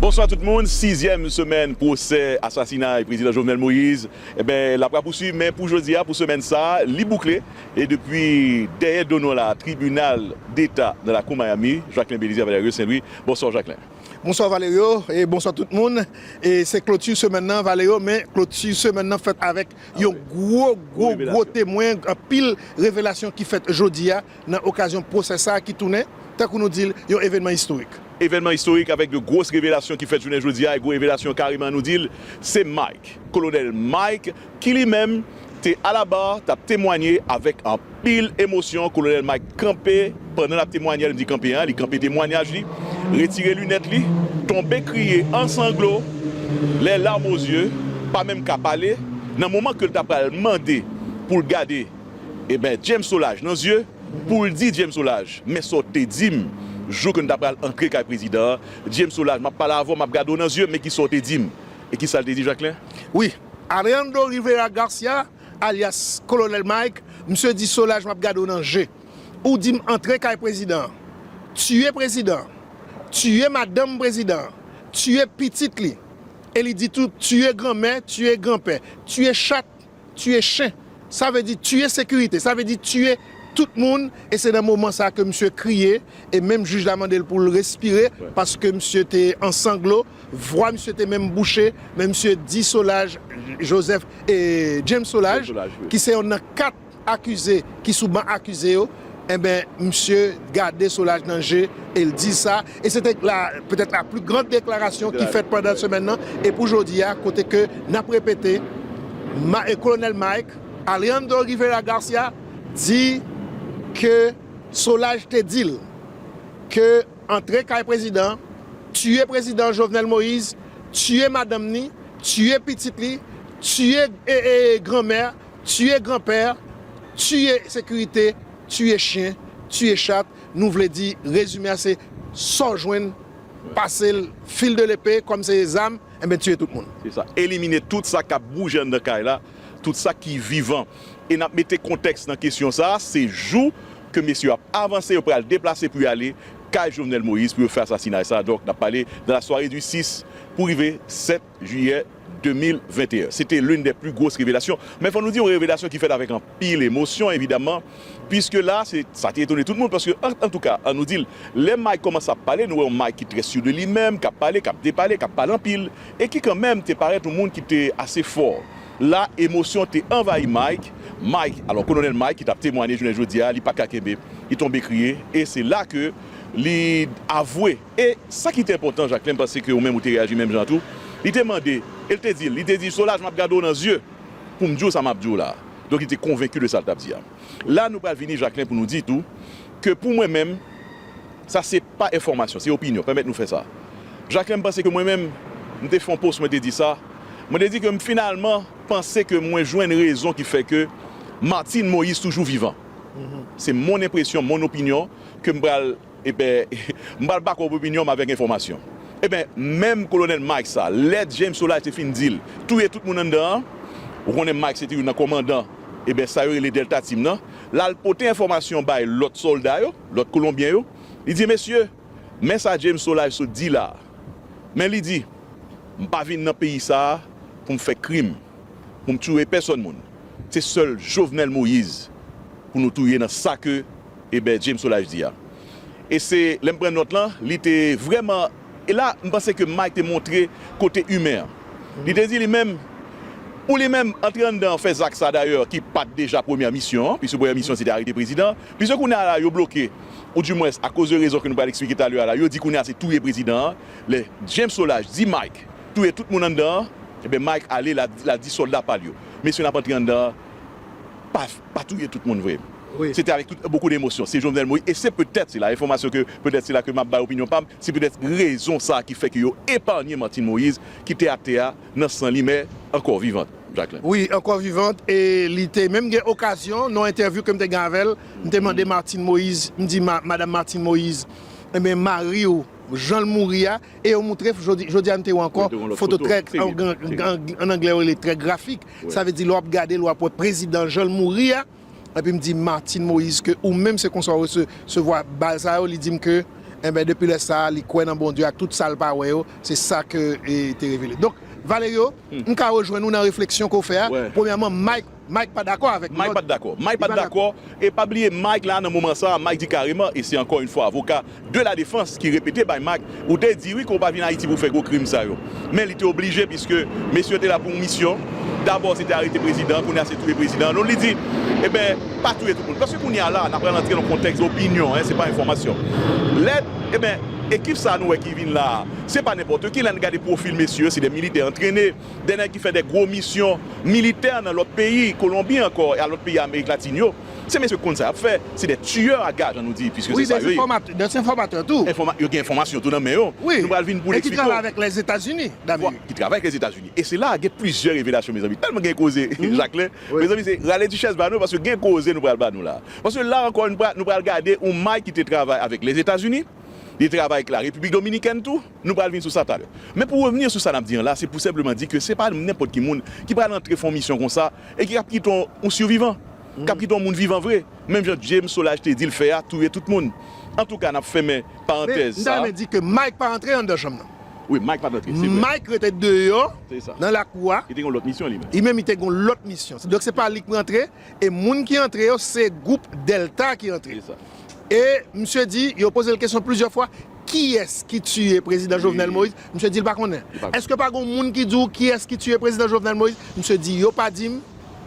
Bonswa tout moun, sizyèm semèn pwosè asasinay Prezidan Jovenel Moïse enben l ap rapousuiv men pou jodi a pou semèn sa a li boukle e depi dèyè do nou la a tribinal deta nan lakou Miami Jacquelin Bélizaire Valerio Saint Louis Bonswa w Jacquelin. Bonswa Valerio e bonswa tout moun e se kloti semèn nan Valerio men kloti semèn nan fèt avèk yon gwo gwo gwo temwen anpil revelasyon ki fèt jodi a Nan okazyon pwosè sa ki tounen, tankou nou di l, yon evènman istorik. Evènman istorik avèk de gwos revelasyon ki fèt jounen jodi a, e gwo revelasyon kareman nou di l, se Mike, Kolonèl Mike, ki li menm te alabar t ap temwanye avèk anpil emosyon. Kolonèl Mike kanpe pandan l ap temwanye, lè m di kanpe a, li kanpe temwanyaj li, retire linèt li, tonbe kriye an sanglo, les larmes aux yeux, pa menm ka pale, nan moman ke l ta pral mande pou l gade. Ebyen James Solaj nan zye poul di James Solaj men sa w te dim jou ke nou ta pral antre kay prezidan an James Solaj map pale avè w map gade w nan zye men kisa w te dim e kisa l te di Jacquelin? Wi Alejandro Rivera Garcia alyas Kolonèl Mike misye di Solaj map gade w nan je ou di m antre kay prezidan an tiye prezidan an tiye madanm prezidan an tiye pitit li e li di tou tiye granmè tiye granpè tiye chat Tuye chen. Sa vle di tuye sekirite. Sa vle di tuye tout moun e se nan moman sa ke misye kriye e menm jij la mande l pou l respire paske misye te an sanglo, vwa misye te menm bouche men misye di Solaj Joseph e James Solaj ki se yon nan 4 akize ki sou ban akize yo enben misye gade Solaj nan je e l di sa. E se te la petèt la pli gran deklarasyon ki fèt pandan semèn nan e pou jodi a kote ke n ap repete ma e Kolonèl Mike Alejandro Rivera Garcia di ke Solaj te di l ke antre kay prezidan, tiye prezidan Jovenel Moïse, tiye madanm ni, tiye pitit li, tiye e e granmè, tiye granpè, tiye sekirite Tuye chyen, tuye chat, nou vle di rezime a se sa w jwenn pase l fil de lepe kòm se zam enben tuye tout moun. Se sa. Elimine tout sa k ap bouje anndan kay la, tout sa ki vivan. E n ap mete kontèks nan kesyon sa a, se jou ke mesye yo ap avanse, yo pral deplase pou y ale kay Jovenel Moïse pou yo fè asasinay sa a. Donk n ap pale nan la sware di 6 pou rive 7. Jiyè 2021. Se te l'une des plus grosses révélations, men fò nou di yon revelasyon ki fèt avèk anpil emosyon evidaman, piske la se sa te etone tout moun paske an antouka an nou di l, lè Mike kòmanse ap pale nou wè yon Mike ki trè sur de li menm, k ap pale, k ap depale, k ap pale anpil e ki kanmenm te parèt yon moun ki te ase fò. La emosyon te anvayi Mike, Mike, alò Kolonèl Mike ki t ap temwanye jounen jodi a li pa t ka kenbe, li tonbe kriye e se la ke li avwe. E sa ki te enpòtan, Jacquelin, m panse ke ou menm ou te reyaji menm jan an tou, li te mande e l te di l, li te di, Solaj m ap gade w nan zye pou m di w sa m ap di w la a. Donk li te konvenki de sa l t ap di a. La nou pral vini, Jacquelin, pou nou di tou ke pou mwen menm, sa se pa enfòmasyon, se opinyon, pèmèt nou fè sa. Jacquelin, m panse ke mwen menm, m te fè yon post mwen te di sa, mwen te di ke m finalman panse ke mwen jwenn rezon ki fè ke Martine Moïse toujou vivan. Se mon enpresyon, mon opinyon ke m pral. Ebè, m pral bak up opinyon m avèk enfòmasyon. Ebè, menm Kolonèl Mike sa, lè James Solage te fin di l touye tout moun anndan an, ou konnen Mike se te youn nan kòmandan, ebè sa yo rele Delta Team nan, l al pote enfòmasyon bay lòt sòlda yo, lòt Kolonbyen yo, li di, Mesye, men sa James Solage sot di la a. Men li di, M pa vin nan peyi sa a pou m fè krim, pou m touye pèsòn moun. Se sèl Jovenel Moïse pou nou touye nan sa ke. Eber James Solage di a. E se lè m pran nòt lan, li te vrèman, e la m panse ke Mike te montre kote imen an. Li te di li menm, pou li menm, antre anndan fè zak sa dayè ki pa t deja premyè misyon an, piske premyè misyon an se te arete prezidan, piske kounye a la yo bloke, ou di mwens akoz de rezon ke nou pral eksplike talè a la, yo di kounye a se touye prezidan an, lè James Solage di Mike touye tout moun anndan an, eben Mike ale la di sòlda pa l yo, mesye n ap antre anndan pa. pa touye tout moun vre se te avèk tout bokou de emosyon se Jovenel Moïse e se petèt se la enfòmasyon ke petèt se la ke map bay opinyon pam se petèt rezon sa ki fè ke yo epanye Martine Moïse ki te atè a nan san li mè ankò vivant Jacquelin. Wi ankò vivant e li te menm gen okazyon nan yon entèvyou kem te gen avèl m te mande Martine Moïse m di madam Martine Moïse enben mariw janl mouri a e yo moutre jodi a m te wè ankò foto trè an anglè yo rele trè grafik Sa vle di lè wap gade l wap wè prezidan jan l mouri a epi m di Martine Moïse ke ou menm se konsa w resevwa bal sa yo li di m ke enben depi lè sa li kwè nan Bondye ak tout sa l pa wè yo se sa ke te revele donk Valerio m ka rejwenn ou nan refleksyon ke w fè a premyèman Mike Mike pa dakò avèk Mike pat dakò Mike pat dakò e pa bliye Mike la nan moman sa Mike di kareman e se ankò yn fwa avoka de la defans ki repete bay Mack, ou te di wi ke w pa vin Ayiti pou fè gwo krim sa yo. Men li te oblije piske mesye yo te la pou yon misyon, dabò se te arete prezidan, kounye a se touye prezidan an. Donk li di, eben, pa touye tout moun. Paske kounye a la, n a pral antre nan yon kontèks opinyon, hein, se pa enfòmasyon. Lè, eben, ekip sa a nou wè ki vin la a, se pa nenpòtoki, lè n gade pwofil mesye yo, se de militè antrene, de nèg ki fè de gwo misyon militè nan lòt peyi, Kolonbi ankò, e a lòt peyi Amerik Latin yo. Se mesye konn sa yap fè. Se des tueurs à gages an nou di puisque se sa yo ye. Wi, des informateurs tou. Enfoma, yo gen enfomasyon tou nan men yo. Wi, Nou pral vin pou w e ki travay avèk Lèzetazini d'Amerik. Ki travay ak Lèzetazini. E se la a gen plizyè revelasyon mezanmi. Tèlman gen koze Jaklen. Mezanmi se rale Duchesse ba nou paske gen koze nou pral ba nou la a. Paske la ankò nou pral gade yon may ki te travay avèk Lèzetazini, li te travay ak la Repiblik Dominikèn tou. Nou pral vin sou sa talè. Men pou revni sou sa n ap di an la, se pou senpleman di ke se pa nenpòt ki moun ki pral antre fè yon misyon konsa e ki ap kite yon sivivan, k ap kite yon moun vivan vre, menm jan James Solage te di l fè a, touye tout moun. Antouka, n ap fèmen parantèz sa. Men, m ta renmen di ke Mike pa antre anndan chanm nan. Wi, Mike pa t antre, se vre. Mike rete deyò nan lakou a. Li te gen yon lòt misyon li menm. Li menm li te gen yon lòt misyon. Donk se pa li k rantre. E moun ki antre yo se gwoup Delta ki antre. E misye di, yo poze l kesyon plizyè fwa, kiyès ki tiye prezidan Jovenel Moïse? Misye di l pa konnen. Eske pa gon moun ki di w kiyès ki tiye prezidan Jovenel Moïse? Misye di, yo pa di m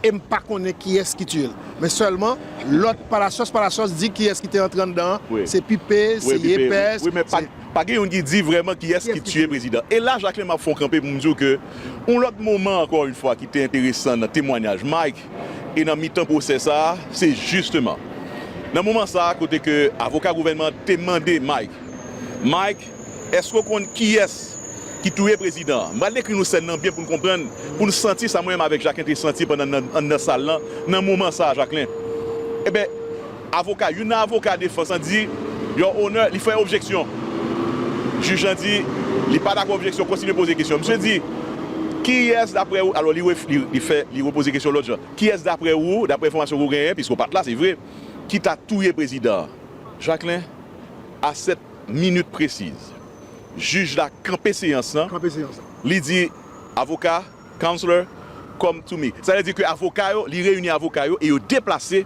e m pa konnen kiyès ki tiye l. Men sèlman, lòt palasyòs palasyòs di kiyès ki te antre anndan an, se Pipe, se Yepes, se. Pa gen youn ki di vrèman kiyès ki tiye prezidan. E la Jacquelin map fè w kanpe pou m di w ke yon lòt moman ankò youn fwa ki te enteresan nan temwanyaj Mike e nan mitan pwosè sa a se jisteman nan moman sa a kote ke avoka gouvènman an te mande Mike, Mike èske w konn kiyès ki touye prezidan an? M pral dekri nou sèn nan byen pou n konprann, pou n santi sa mwen menm avèk Jacquelin te santi pandan n anndan sal lan nan moman sa a Jacquelin. Eben. Avoka, Youn nan avoka defans lan di, Your Honor, li fè objeksyon. Jij lan di, Li pa dakò objeksyon, kontinye poze kesyon. Misye di, Kiyès daprè ou, alò li ref, li fè, li repoze kesyon lòt jan, Kiyès daprè ou, daprè enfòmasyon ke ou genyen, piske ou pa t la, se vre, ki ta touye prezidan an? Jacquelin, A sèt minit presiz, jij la kanpe seyans lan, li di, Avoka. Counselor come to me. Sa vle di ke avoka yo, li reyini avoka yo e yo deplase,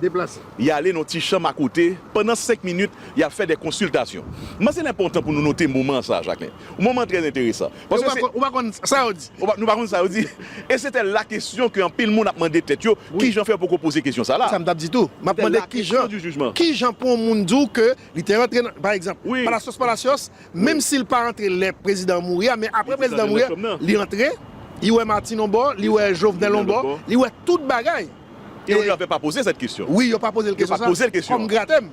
y ale nan ti chanm akote, pandan senk minit, y ap fè de konsiltasyon. M panse l enpòtan pou nou note moman sa a, Jacquelin. Yon moman trè enteresan. E ou pa konn sa yo di. Nou pa konn sa yo di. E sete la kesyon ke anpil moun ap mande tèt yo, ki jan fè yo poko poze kesyon sa la? Se sa m t ap di tou. M ap mande ki jan, ki jan pou yon moun di w ke li te rantre nan, pa egzanp, Palacios Palacios Menm sil pa antre lè prezidan an mouri a men aprè prezidan an mouri a li antre li wè Martine on bò li wè Jovenel on bò li wè tout bagay e yo pa poze l kesyon sa wi yo pa poze l kesyon sa kòm gratèm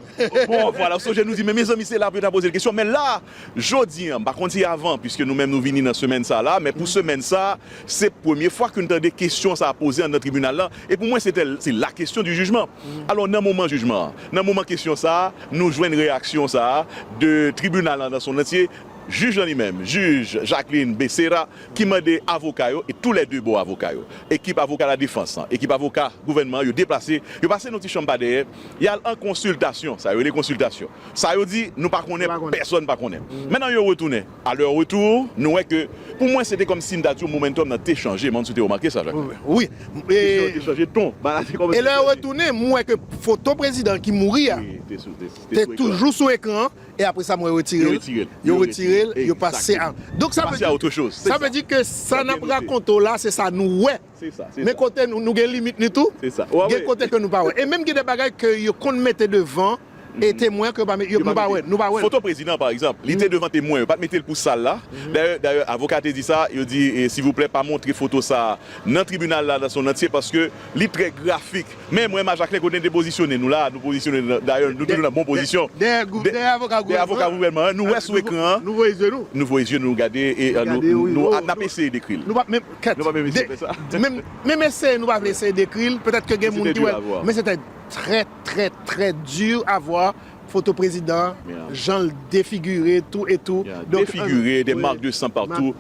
bon vwala ou sonje nou di men mezanmi se la pou yo ta poze l kesyon men la jodi an m pa konn si avan piske nou menm nou vini nan semèn sa la men pou semèn sa Se premye fwa ke n tande kesyon sa a poze anndan tribinal la, e pou mwen sete se la question du jugement. Alò nan moman jijman an, nan moman kesyon sa a, nou jwenn reyaksyon sa a de tribinal la nan son antye, jij lan li menm, jij Jacqueline Becerra, ki mande avoka yo, e tou lè de bò avoka yo, ekip avoka ladefans lan, ekip avoka gouvènman an, yo deplase, yo pase nan ti chanm pa dèyè, y al an konsiltasyon, sa yo rele konsiltasyon, sa yo di nou pa konnen, pèsòn pa konnen. Mennan yo retounen. A lè retour, nou wè ke pou mwen se te kòm si m ta di w momentum nan te chanje, m pa konn si w te remake sa Jacqueline. Wi. Kesyon an te chanje ton. E lè yo retounen, m wè ke foto prezidan an ki mouri a te toujou sou ekran an e apre sa m wè yo retire l. Yo retire l, yo pase a. Donk sa vle di. Sa vle di ke sa n ap rakonte w la se sa nou wè. Men kote nou gen limit nou tou, gen kote ke nou pa wè. E menm gen de bagay ke yo konn mete devan e temwen ke yo pa wè, nou pa wè. Foto prezidan pa egzanp, li te devan temwen, yo pa t mete l pou sal la. Dayè avoka a te di sa, yo di silvouplè pa montre foto sa a nan tribinal la nan son antye paske li trè grafik. Men mwen m a Jaklen kote n te pozisyone nou la a, nou pozisyone nou, dayè nou toujou nan bon pozisyon. Dèyè avoka gouvènman an. Nou wè sou ekran an, nou voye zye nou gade e nou ap eseye dekri l. Kèt, de, menm, menm eseye nou pa vle eseye dekri l, petèt ke gen moun ki wè l, men se te trè, trè, trè dur à voir foto prezidan an, jan l defigire tou e tou, donk, defigire, des marques de sang partout,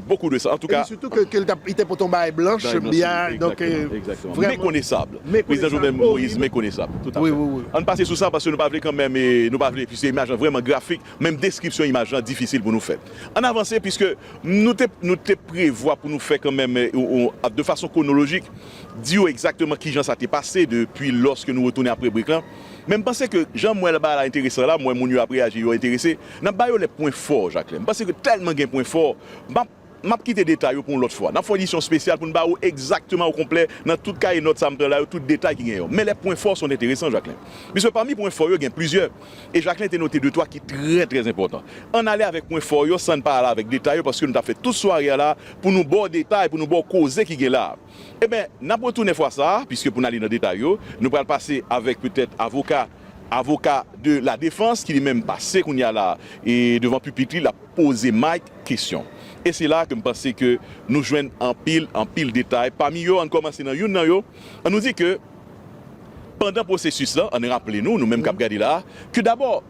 beaucoup de sang, antouka, epi sitou ke l t ap, li te pote yon bagay blanch, bya, donk, vrèman, mekonesab, prezidan Jovenel Moïse mekonesab, tout a fèt, an n pase sou sa paske nou pa vle kanmenm, nou pa vle, piske imaj lan vrèman grafik. Menm deskripsyon imaj lan difisil pou nou fè. Ann avanse piske nou te nou te prevwa pou nou fè kanmenm de fason kwonolojik, di yo egzakteman kijan sa te pase depi lòske nou retounen apre break lan. Men m panse ke jan m wè bagay la enteresan la, m wè moun yo ap reyaji, yo enterese, n ap ba yo lè pwen fò Jaklen. M panse ke tèlman gen pwen fò, m ap. M ap kite detay yo pou yon lòt fwa. N ap fè yon edisyon spesyal pou n ba ou egzakteman okonplè nan tout kaye nòt sa m pran la yo tout detay ki gen yo. Men lè pwen fò sont enteresan, Jacquelin. Piske pami pwen fò yo gen plizyè e Jacquelin te note de twa ki trè trè enpòtan. An n ale avèk pwen fò yo san n pa ale avèk detay yo paske nou t ap fè tout sware a la pou nou ba w detay, pou nou ba w koze ki gen la a. Enben, n ap retounen fwa sa a, piske pou n ale nan detay yo, nou pral pase avèk petèt avoka avoka de la defans ki li menm pase kounye a la e devan pipit li l ap poze Mike kesyon. E se la ke m panse ke nou jwenn anpil anpil detay. Pami yo, ann kòmanse nan youn nan yo, annou di ke pandan pwosesis lan, ann raple nou, nou menm k ap gade la a, ke dabò,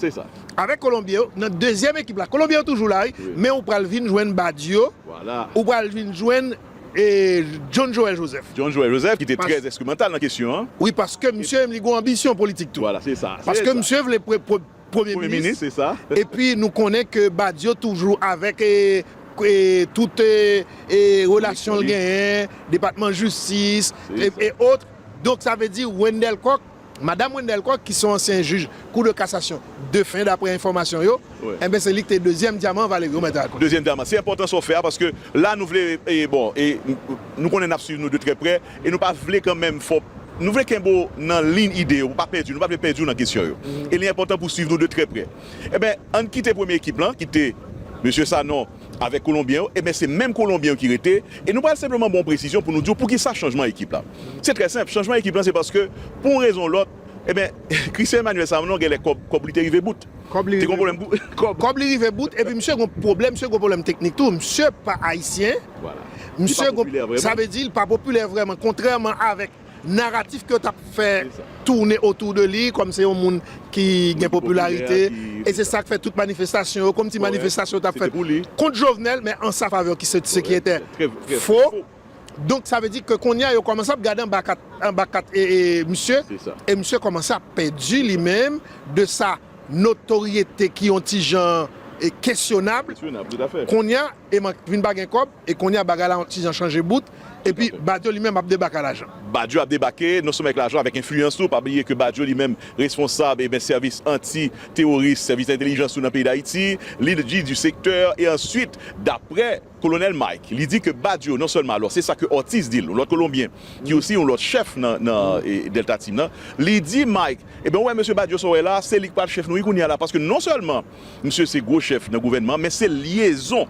Se sa. Avèk kolonbyen yo nan dezyèm ekip la. Kolonbyen yo toujou la wi men ou pral vin jwenn Badio, ou pral vin jwenn John Joël Joseph. John Joël Joseph ki te trè enstrimantal nan kesyon an. Wi paske misye menm li gen yon anbisyon politik tou. Vwala se sa. Paske misye vle premye minis. Se sa. Epi nou konnen ke Badio toujou avèk tout relasyon l genyen, depatman jistis e otre. Donk sa vle di Wendel Coq. Madam Wendelle Coq ki son ansyen jij kou de kasasyon defen daprè enfòmasyon yo, enben se li ki te dezyèm dyaman Valerio mèt rakonte. Dezyèm dyaman. Se enpòtan sa w fè a paske la nou vle e bon e nou konnen n ap swiv nou de trè prè e nou pa vle kanmenm fè w nou vle kenbe w nan liyn ide yo pou w pa pèdi nou pa vle pèdi w nan kesyon yo e li enpòtan pou w swiv nou de trè prè. Enben an n kite premye ekip lan ki te Mesye Sanon, avèk kolonbyen yo, eben se menm kolonbyen yo ki rete, e nou pral senpleman ba w yon presizyon pou nou di w poukisa chanjman ekip la. Se trè senp, chanjman ekip lan se paske pou yon rezon ou lòt, eben Christian Emmanuel Sanon genlè kòb kòb li te rive bout. Kòb li rive bout, kòb li rive bout, epi misye gen yon pwoblèm, misye gen yon pwoblèm teknik tou, misye pa ayisyen, misye gen, sa vle di li pa popilè vrèman, kontrèman avèk. naratif ke yo tap fè toune otou de li kòm se yon moun ki gen popilarite e se sak fè tout manifestasyon yo kòmti manifestasyon yo tap fèt kont Jovenel men an sa favè ki se ki etè fo donk sa vle di ke kounye a yo kòmanse ap gade anba kat anba kat misye e misye kòmanse ap pèdi li menm de sa notoryete ki yon ti jan kesyonab kounye a. e mank vin pa gen kòb e kounye a bagay la yon ti jan chanje bout epi Badio li menm ap debake a lajan. Badio ap debake non sèlman ak lajan avèk enfliyans tou, pa bliye ke Badio li menm responsab e ben sèvis anti teworis, sèvis entelijans tou nan peyi Dayiti, li di di sektè e answit daprè Kolonèl Mike li di ke Badio non sèlman alò se sa ke Ortiz di l yon lòt kolonbyen ki osi yon lòt chèf nan nan Delta Team nan li di Mike e ben ou wè mesye Badio sa w wè la se li k pral chèf nou wi kounye a la paske non sèlman Misye se gwo chèf nan gouvènman men se lyezon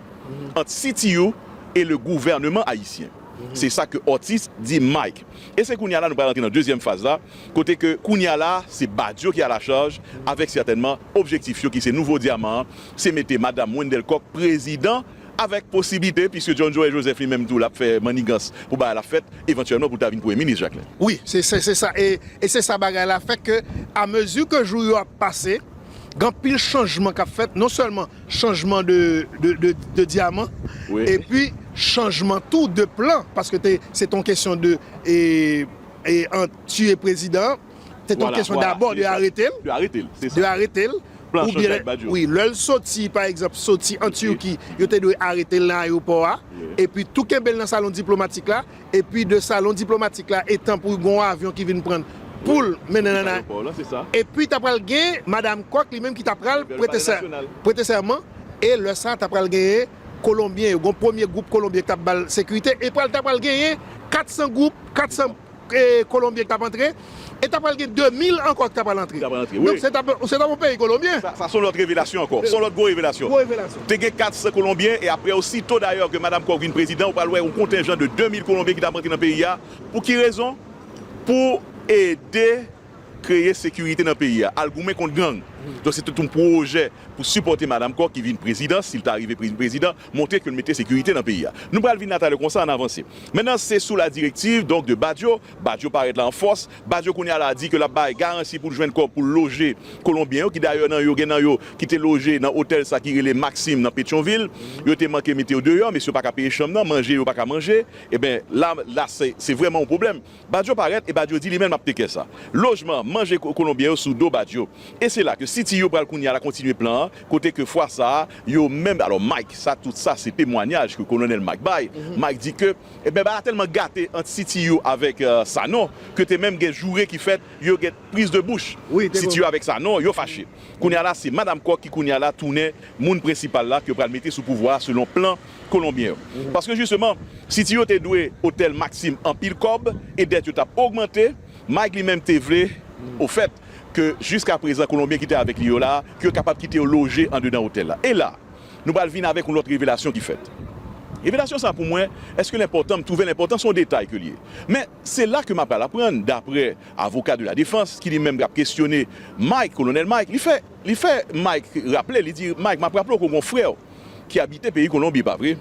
ant CTU e le gouvèneman ayisyen. Se sa ke Ortiz di Mike. E se kounya la nou pral antre nan dezyèm faz la kote ke kounya la se Badio ki a la chaj avèk sètènman objektif yo ki se nouvo dyaman an se mete Madam Wendelle Coq prezidan avèk posiblite piske John Joël Joseph li menm tou l ap fè mannigans pou bagay la fèt evantyèlman pou l ta vin premye minis Jacquelin. Wi, se sa e se sa bagay la fè ke a mezi ke jou yo ap pase. gen anpil chanjman kap fèt non sèlman chanjman de dyaman epi chanjman tou de plan paske se te yon kesyon de tiye prezidan an, se te yon kesyon dabò de arete l, de arete l, wi lè l soti pa egzanp soti an Turquie yo te dwe arete l nan ayewopò a epi tou kenbe l nan salon diplomatik la Epi de salon diplomatik la etan pou gon avyon ki vin prann poul mennen nan epi ta pral gen madam Kwak li menm ki ta pral prete sèman e lè sa ta pral genyen kolonbyen yo gon premye gwoup kolonbyen ki tap bal sekirite e pral ta pral genyen 400 gwoup 400 kolonbyen ki tap antre. e ta pral gen 2000 ankò ki ta pral antre. Donk se tap se tap yon peyi kolonbyen. Sa son lòt revelasyon ankò. Son lòt gwo revelasyon. Te gen 400 kolonbyen e aprè osito dayè ke Madam Kòk vin prezidan ou pral wè yon kontenjan de 2000 kolonbyen ki ta ap antre nan peyi a pou ki rezon? Pou ede kreye sekirite nan peyi a, al goumen kont gang. Donk se te yon pwojè pou sipòte Madam Kòk ki vin prezidan, si l ta rive vin prezidan, montre ke l mete sekirite nan peyi a. Nou pral vin la talè konsa, ann avanse. Mentnan se sou la direktiv donk de Badio, Badio parèt la an fòs. Badio kounye a la di ke l ap bay garansi pou l jwenn kòb pou l loje Kolonbyen yo ki dayè nan yo gen nan yo ki te loje nan otèl sa ki rele Maxim nan Petyonvil. Yo te manke mete yo deyò, mesye yo pa ka peye chanm nan, manje yo pa ka manje. Eben, la la se se vrèman yon pwoblèm. Badio parèt e Badio di li menm l ap tekè sa. Lojman, manje Kolonbyen yo sou do Badio. E se la ke CT yo pral kounye a la kontinye plan an kote ke fwa sa a yo menm, alò Mike sa tout sa se temwanyaj ke Kolonèl Mike bay. Mike di ke Ebyen bagay la tèlman gate ant CTU avèk Sanon ke te menm gen joure ki fèt yo gen priz de bouch CTU avèk Sanon yo fache kounye a la se Madam Kòk ki kounye a la tounen moun prensipal la ke yo pral mete sou pouvwa a selon plan kolonbyen yo paske jisteman CTU te dwe otèl Maxim anpil kòb e dèt yo tap ogmante Mike li menm te vle ofèt ke jiskaprezan kolonbyen ki te avèk li yo la ke yo kapab kite yo loje andedan otèl la e la Nou pral vin avèk yon lòt revelasyon ki fèt. Revelasyon sa a pou mwen, èske l enpòtan? M twouve l enpòtan, se yon detay ke l ye. Men, se la ke m apral aprann, daprè avoka de la defans, ki li menm k ap kesyone Mike, Kolonèl Mike, li fè, li fè Mike raple, li di, Mike, m ap raple w ke w gen yon frè w ki abite peyi Kolonbi, pa vre?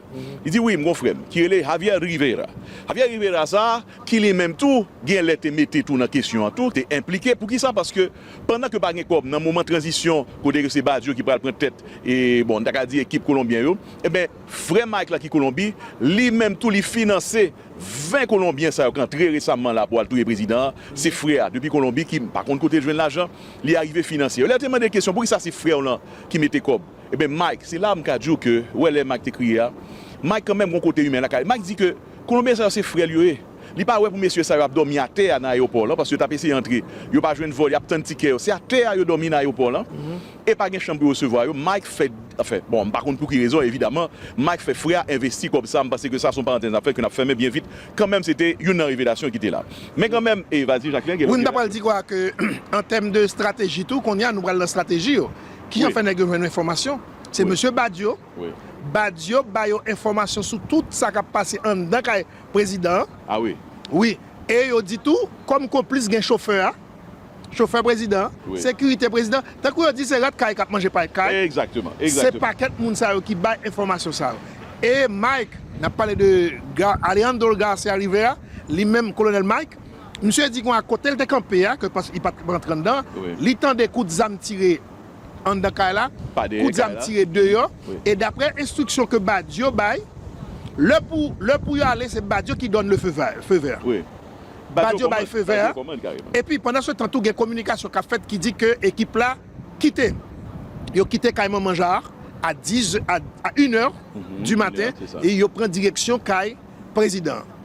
Li di, Wi, m gen yon frè m ki rele Javier Rivera. Javier Rivera sa a, ki li menm tou, gen lè te mete tou nan kesyon an tou, te enplike. Poukisa? Paske. Pandan ke pa gen kòb nan moman tranzisyon kote ke se Badio ki pral pran tèt e bon nou ta ka di ekip kolonbyen yo, enben frè Mike la ki Kolonbi, li menm tou li finanse 20 kolonbyen sa yo k antre resamman la pou al touye prezidan an, se frè a depi Kolonbi ki m pa konn kote l jwenn lajan, li arive finanse yo. Lè yo te mande kesyon poukisa se frè w lan ki mete kòb? Enben Mike, se la m ka di w ke, wè lè Mike te kriye a, Mike kanmenm gon kote imen lakay li. Mike di ke. Kolonbyen sa yo se frèl yo ye. Li pa wè pou mesye sa yo ap dòmi atè a nan ayewopò lan paske yo tap eseye antre. Yo pa jwenn vòl yap tann tikè yo. Se atè a yo dòmi nan ayewopò lan e pa gen chanm pou yo resevwa yo. Mike fè anfen bon m pa konn pou ki rezon evidaman Mike fè frè a envesti kòb sa m panse ke sa son parantèz nap fè ke nap fèmen byen vit kanmenm se te youn nan revelasyon ki te la. Men kanmenm e vas y Jacquelin gen lòt Wi m ta pral di kwa ke an tèm de strateji tou kounye a nou pral nan strateji yo. Kijan fè nèg yo jwenn enfòmasyon? Se mesye Badio. Badio ba yo enfòmasyon sou tout sa k ap pase anndan kay prezidan an. A wi? Wi. E yo di tou, kòm konplis gen chofè a, chofè prezidan an, sekirite prezidan an, tankou yo di se rat kay k ap manje pay kay, se pakèt moun sa yo ki bay enfòmasyon sa yo. E Mike, n ap pale de Alejandro Garcia Rivera, li menm Kolonèl Mike, misye di kon a kote l te kanpe a, ke li pa t rantre anndan, li tande kout zam tire anndan kay la, koudjam tire deyò, e daprè enstriksyon ke Badio bay, lè pou lè pou yo ale se Badio ki dònn le feu vert feu vert Badio bay feu vert a, epi pandan se tan tou gen kominikasyon kap fèt ki di ke ekip la kite yo kite kay manman Jaar a 10 a 1 è di maten e yo pran direksyon kay prezidan an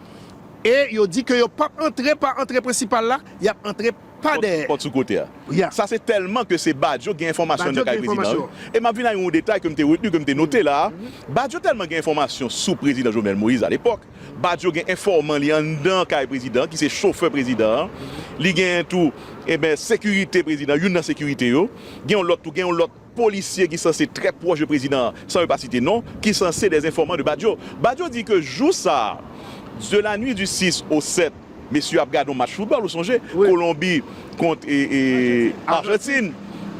e yo di ke yo pap antre pa antre prensipal la yap antre Pa dèyè. Pòt sou kote a. Ya. Sa se tèlman ke se Badjo k gen enfòmasyon nan kay prezidan wi. E m ap vin a yon detay ke m te retni, ke m te note la a. Badjo tèlman gen enfòmasyon sou prezidan Jovenel Moïse alepòk, Badjo gen enfòman li anndan kay prezidan ki se chofè prezidan an. Li genyen tou, enben, sekirite prezidan, youn nan sekirite yo. Gen yon lòt tou, gen yon lòt. polisye ki sanse trè pwòch de prezidan an, san yo pa site non, ki sanse des enfòman de Badio. Badio di ke jou sa a, de la nuit du 6 au 7, mesye yo ap gade yon match foutbòl, ou sonje, Kolonbi kont Arjantin,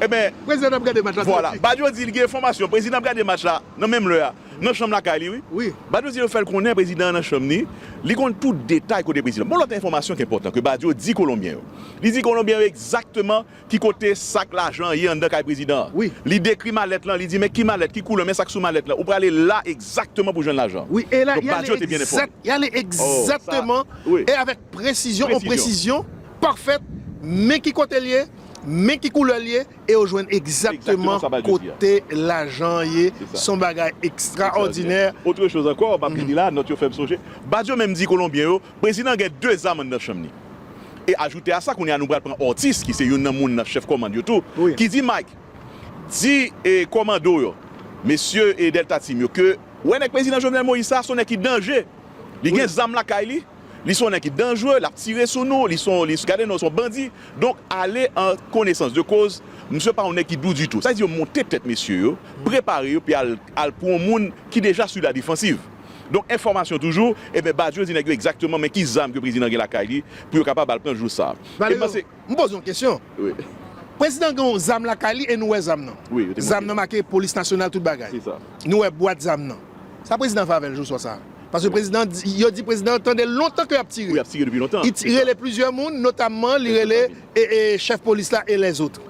enben, vwala, Badio di li gen enfòmasyon, prezidan ap gade match la, nan menm lè a, nan chanm lakay li wi, Badio di yo fè l konnen prezidan an nan chanm li, li konn tout detay kote prezidan. Bon lòt enfòmasyon ki enpòtan ke Badio di Kolonbyen yo, li di Kolonbyen yo egzakteman Ki kote sak lajan an ye anndan kay prezidan an? Wi. Li dekri malèt lan, li di men ki malèt, ki koulè, men sak sou malèt lan. Ou prale la egzakteman pou jwenn lajan an. Wi, e la, ya le egzak, ya le egzakteman e avèk presizyon, on presizyon pafèt, men ki kote l ye, men ki koulè l ye, e ou jwenn egzakteman kote lajan an ye. S on bagay ekstraòdinè. Otre choz ankò, m ap vini la, nòt yo fè m sonje. Badio menm di Kolonbyen yo, Prezidan gen 2 zam anndan chanm ni. E ajoute a sa kounye a nou pral pran Ortiz ki se youn nan moun nan chèf kòmand yo tou ki di Mike di e kòmando yo mesye e Delta Team yo ke wè nèg Prezidan Jovenel Moïse sa son nèg ki danje li gen zam lakay li li son nèg ki danjre lap tire sou nou li son li gade non son bandi donk ale an konesans de koz misye pa yon nèg ki dou ditou sa vle di yo monte tèt mesye yo prepare yo pi al al pran yon moun ki deja su la defansiv. Donk enfòmasyon toujou, ebyen Badio di nèg yo egzakteman men ki zam ke prezidan an gen lakay li pou yo kapab al pran jou sa. Valerio, m poze yon kesyon. Prezidan an gen yon zam lakay li e nou wè zam nan. Zam nan make polis nasyonal tout bagay. Nou wè bwat zam nan. Sa prezidan an fè avèl jou swa sa? Paske prezidan an di, yo di prezidan an tande lontan ke yap tire. Wi yap tire depi lontan. Li ti rele plizyè moun notamman li rele chèf polis la e lèzotre.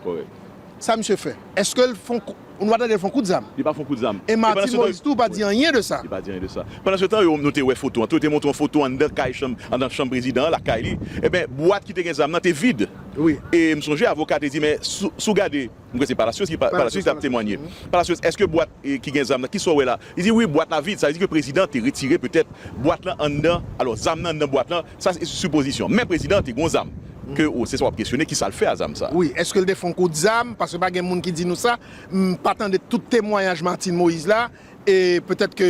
Sa misye fè? Eskel fon. Ou nou pa tande l fon kout zam. Li pa fon kout zam. E Martine Moïse tou pa di anyen de sa. Li pa di anyen de sa. Pandan se tan yo nou te wè foto an tou yo te montre yon foto anndan kay chanm anndan chanm prezidan an lakay li enben bwat ki te gen zam nan te vid e m sonje avoka te di men sou sou gade m kwè se Palacios ki Palacios ki t ap temwanye Palacios èske bwat ki gen zam nan kisa w wè la li di wi bwat la vid sa vle di ke prezidan te retire petèt bwat lan anndan alò zam nan anndan bwat lan Sa se sipozisyon. Men prezidan an te gon zam. Ke ou, se sa wap kesyone, ki sa l fè a zam sa? Wi, eske l te fè yon kout zam? Paske pa gen moun ki di nou sa. M pa tande tout temwayaj Martine Moïse la. E petèt ke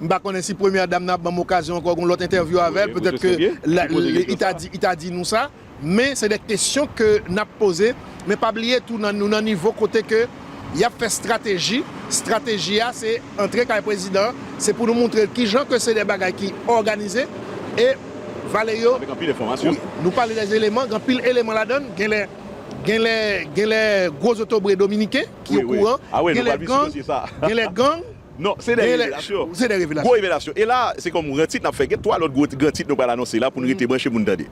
m pa konnen si premyè dam nan ap ban m okazyon ankò gon lòt entèvyou avè l. Petèt ke li ta di nou sa. Men se de kesyon ke nap poze, men pa bliye tou nou nan nivo kote ke yap fè strateji, strateji a se antre kay prezidan an, se pou nou moutre'l kijan ke se de bagay ki òganize e vale yo Avèk anpil enfòmasyon. Wi, nou pale de eleman, gen anpil eleman ladann, genlè genlè genlè gwo zotobre dominiken ki okouran, genlè gang, genlè gang. Non, se dè revelasyon. Se dè revelasyon. Gwo revelasyon. E la, se kòm gran tit n ap fè. Gen 3 lòt gwo gran tit nou pral anonse la pou n rete branche pou n tande.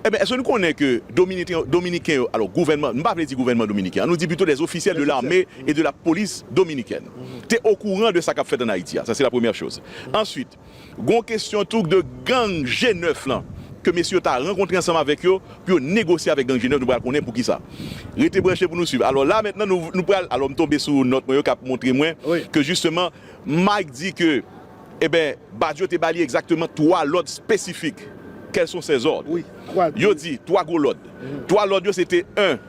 Enben, èske nou konnen ke Dominiken, Dominiken yo, alò gouvènman, nou pa vle di gouvènman Dominiken an, nou di pito les officiels de l'armée et de la police dominicaine te okouran de sa k ap fèt an Ayiti a? Sa se la premyè choz. Answit. Gon kesyon tou de gang G 9 lan ke mesye yo ta rankontre ansanm avèk yo pou yo negosye avèk gang G 9 nou pral konnen poukisa. Rete branche pou nou swiv. Alò la mentnan nou pral alò m tonbe sou nòt mwen yo kap montre mwen ke jisteman Mike di ke eben Badio te ba li egzakteman 3 lòd spesifik. Quels sont ces ordres? Yo di 3 gwo lòd. 3 lòd yo se te 1.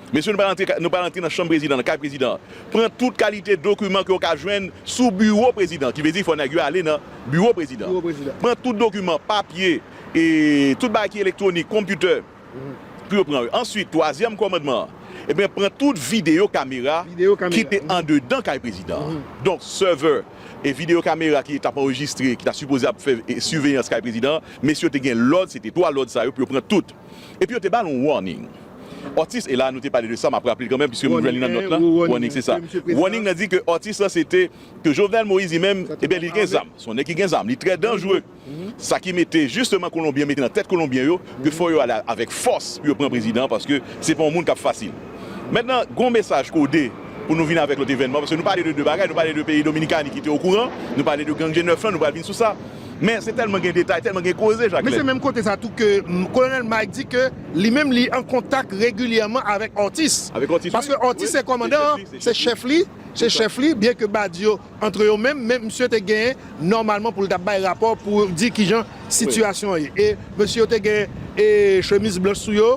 Mesye nou pral antre nan chanm prezidan, nan kay prezidan an, pran tout kalite dokiman ke ou ka jwenn sou biwo prezidan, ki vle di fò nèg yo ale nan biwo prezidan, pran tout dokiman, papye, tout bagay ki elektwonik, konpyoutè, pou yo pran yo. Answit, twazyèm kòmandman an, ebyen pran tout videyo kamera ki te andedan kay prezidan an. Donk, sèvè e videyo kamera ki tap anrejistre, ki ta sipoze ap fè siveyans kay prezidan an, mesye yo te gen lòd, se te 3 lòd sa yo pou yo pran tout. Epi yo te bal yon warning Atis e la nou te pale de sa map raple kanmenm piske m jwenn li nan nòt lan warning se sa warning nan di ke atis lan se te ke Jovenel Moïse li menm ebyen li gen zam son nèg ki gen zam li trè danjre sa ki mete jisteman kolonbyen mete nan tèt kolonbyen yo ke fò yo ale avèk fòs pou yo pran prezidan paske se pa yon moun kap fasil mentnan gon mesaj kode pou nou vin avèk lòt evènman paske nou pale de 2 bagay nou pale de peyi Dominikani ki te okouran nou pale de gang G9 lan nou pral vin sou sa. Men se tèlman gen detay, tèlman gen koze Jaklen. Men se menm kote sa tou ke Kolonèl Mike di ke li menm li an kontak regilyèman avèk Ortiz. Avèk Ortiz wi. Paske Ortiz se kòmandan an, se chèf li, se chèf li, byen ke Badio antre yo menm, men msye te gen nòmalman pou l ta bay rapò pou di kijan sitiyasyon an ye. E mesye yo te gen chemiz blanch sou yo,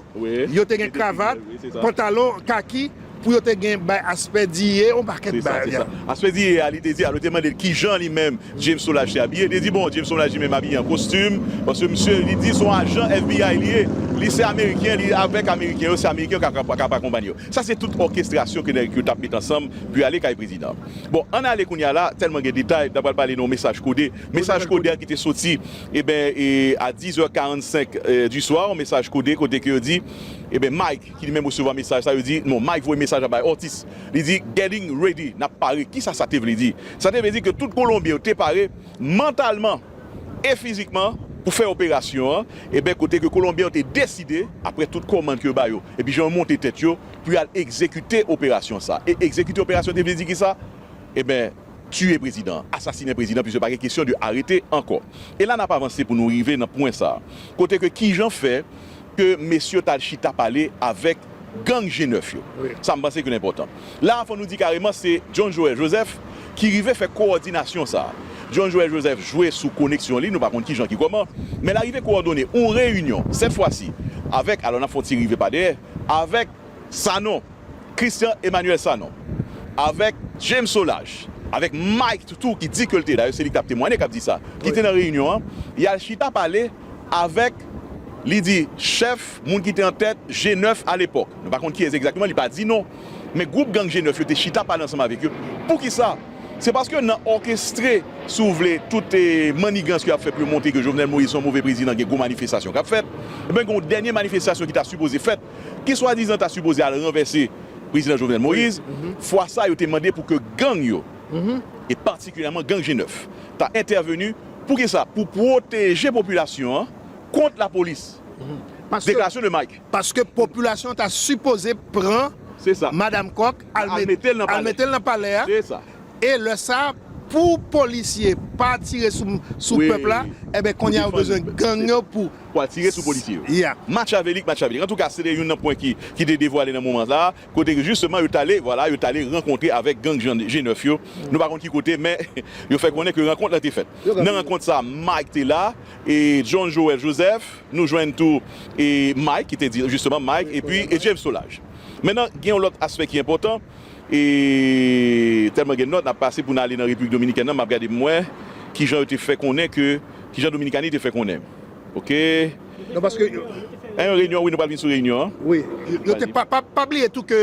yo te gen kravat, pantalon kaki. Pou yo te gen bay aspè diye yon pakèt Se sa, se bagay. sa. Aspè diye a, li te di, alò yo te mande l ki jan li menm, James Solage, te abiye. Li te di, bon, James Solage li menm abiye an kostim, paske misye, li di se yon ajan FBI li ye. Li se Ameriken, li avèk Ameriken yo, se Ameriken yo k ap, k ap akonpanye yo. Sa se tout òkestrasyon ke nèg yo t ap mete ansanm pou yo ale kay prezidan an. Bon, ann ale kounye a la, tèlman gen detay, n ta pral pale de yon mesaj kode. Mesaj kode a ki te soti, eben, e a 10 è 45 du soir, yon mesaj kode kote ke yo di, eben, Mike, ki li menm resevwa mesaj sa yo di non Mike voye mesaj la bay Ortiz li di getting ready nap pare kisa sa te vle di sa te vle di ke tout kolonbyen yo te pare mantalman e fizikman pou fè operasyon an eben kote ke kolonbyen yo te deside aprè tout kòmand ke yo ba yo epi jan yo monte tèt yo pou yal egzekite operasyon sa e egzekite operasyon te vle di kisa eben tiye prezidan an asasinen prezidan an piske pa gen kesyon de arete ankò e la nap avanse pou nou rive nan pwen sa kote ke kijan fè. ke mesye yo tal chita pale avèk gang G9 yo. Sa m panse ke l enpòtan. La a fò nou di kareman se John Joel Joseph ki rive fè kowòdinasyon sa a. John Joel Joseph jwe sou koneksyon li, nou pa konn kijan ki kòman, men l arive kowòdone yon reyinyon, sèt fwa si, avèk, alò n ap fè yon ti rive pa dèyè, avèk Sanon, Christian Emmanuel Sanon, avèk James Solages, avèk Mike tou ki di ke l te, dayè se li k ap temwanye k ap di sa, ki te nan reyinyon an, y al chita pale. avèk, li di, chèf, moun ki te an tèt, G9 alepòk. Nou pa konn kiyès egzakteman, li pa di non. Men gwoup gang G9 yo te chita pale ansanm avèk yo. Poukisa? Se paske nan òkestre, si w vle, tout mannigans ke y ap fè pou yo montre ke Jovenel Moïse se yon move prezidan, gen gwo manifestasyon k ap fèt. Ebyen gen yon dènye manifestasyon ki ta sipoze fèt, ki swadizan ta sipoze al ranvèse Prezidan Jovenel Moïse. Fwa sa yo te mande pou ke gang yo, e patikilyèman gang G9, ta entèveni Pou ki sa? Pou pwoteje popilasyon an kont lapolis. Deklarasyon de Mike. Paske popilasyon ta sipoze pran Madam Kòk al mete l nan palè a e lè sa pou polisye pa tire sou pèp la enben kounye a yo bezwen gang yo pou al tire sou polisye yo. Matchavelik, matchavelik. Antouka se te youn nan pwen ki te devwale nan moman sa a. kote ke jisteman yo t ale, vwala, yo t ale rankontre avèk gang G9 yo, nou pa konn ki kote, men yo fè konnen ke rankont la te fèt. Nan rankont sa a, Mike te la, e John Joel Joseph, nou jwenn tou Mike, ki te di jisteman Mike, epi James Solage. Mennan, gen yon lòt aspè ki enpòtan, e tèlman gen nòt, n ap pase pou n ale nan Repiblik Dominikèn nan, m ap gade pou m wè ki jan yo te fè konnen ke, ki jan Dominikani te fè konnen. Ok. Non paske yo. Nan yon reyinyon wi nou pral vin sou reyinyon an. Wi. Yo te pa bliye tou ke